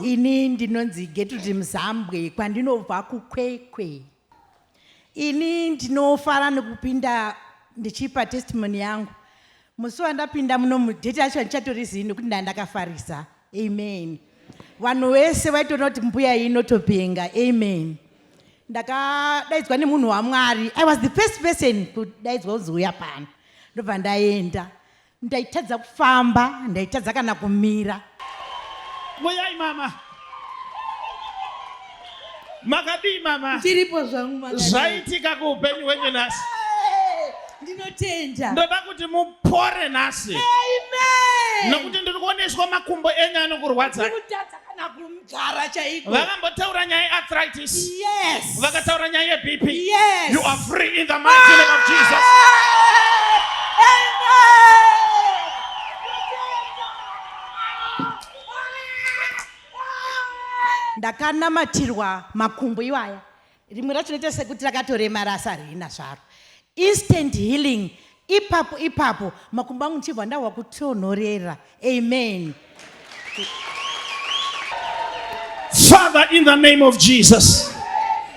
ini ndinonzi getuti muzambwe kwandinobva kukwekwe ini ndinofara nekupinda ndichipa testimony yangu musi wandapinda muno mudheti yacho handichatori zii nekuti ndandakafarisa amen vanhu vese vaitoona kuti mbuya iyi inotopenga amen ndakadaidzwa nemunhu wamwari i was the first person kudaidzwa kunzi uya pano ndobva ndaenda ndaitadza kufamba ndaitadza kana kumira muyai mama Makadii mama? Tiripo zvangu mama. Zvaitika kuupenyu hwenyu nhasi. Ndinotenda. Ndoda kuti mupore nhasi. Amen. Nokuti ndiri kuoneswa makumbo enyu anokurwadza. Ndikutadza kana kumugara chaiko. Vakambotaura nyaya arthritis. Yes. Vakataura nyaya ye BP. Yes. You are free in the mighty name of Jesus. Amen. ndakanamatirwa makumbo iwaya rimwe racho noita sekuti rakatoremara asi harina zvaro instant healing ipapo ipapo makumbo angu ndichibva ndahwa kutonhorera amen father in the name of jesus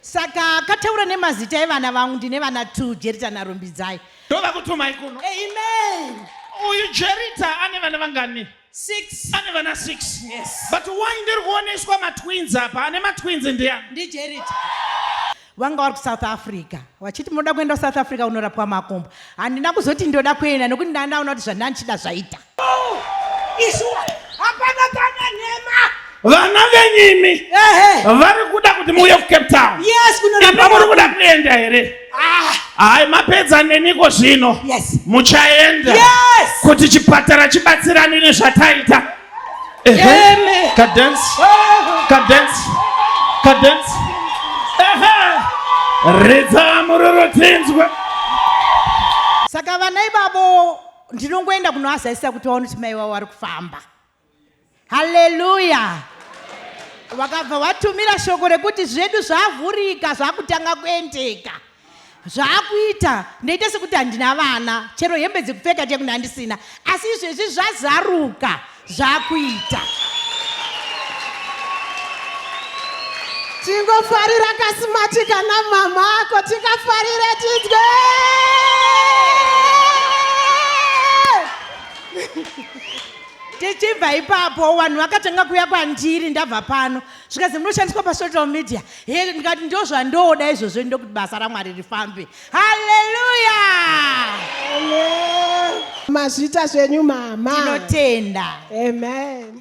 Saka akataura nemazita evana vangu ndine vana two Jerita naRumbidzai. Ndova kutumai kuno. Amen. Uyu Jerita ane vana vangani? Six. Ane vana six. Yes. But why ndiri kuoneswa matwins apa? Ane matwins ndiani? Ndi Jerita. vanga vari kusouth africa vachiti munoda kuenda kusouth africa unorapwa makumbo handina kuzoti ndoda kuenda nokuti ndandaona kuti zvandandichida zvaita Hapana kana nhema. vana venyimi vari kuda kuti muuye kucape town ipa muri kuda kuenda here ah. hai mapedza neniko zvino muchaenda kuti chipatara chibatsirane nezvataita ridza muroro tinzwe saka vana ivavo ndinongoenda kunoazazisa kuti vaone kuti mai vavo vari kufamba haleluya vakabva vatumira shoko rekuti zvedu zvavhurika zvakutanga kuendeka zvaakuita ndoita sekuti handina vana chero hembe dzekupfeka tekuna handisina asi izvezvi zvazaruka zvakuita tingofarira kasimatika namama ako tikafarire tidye tichibva ipapo vanhu vakatanga kuya kwandiri ndabva pano zvikazi munoshandiswa pasocial media he ndikati ndozvandoda izvozvo ndokuti basa ramwari rifambe haleluya mazvita zvenyu mama tinotenda amen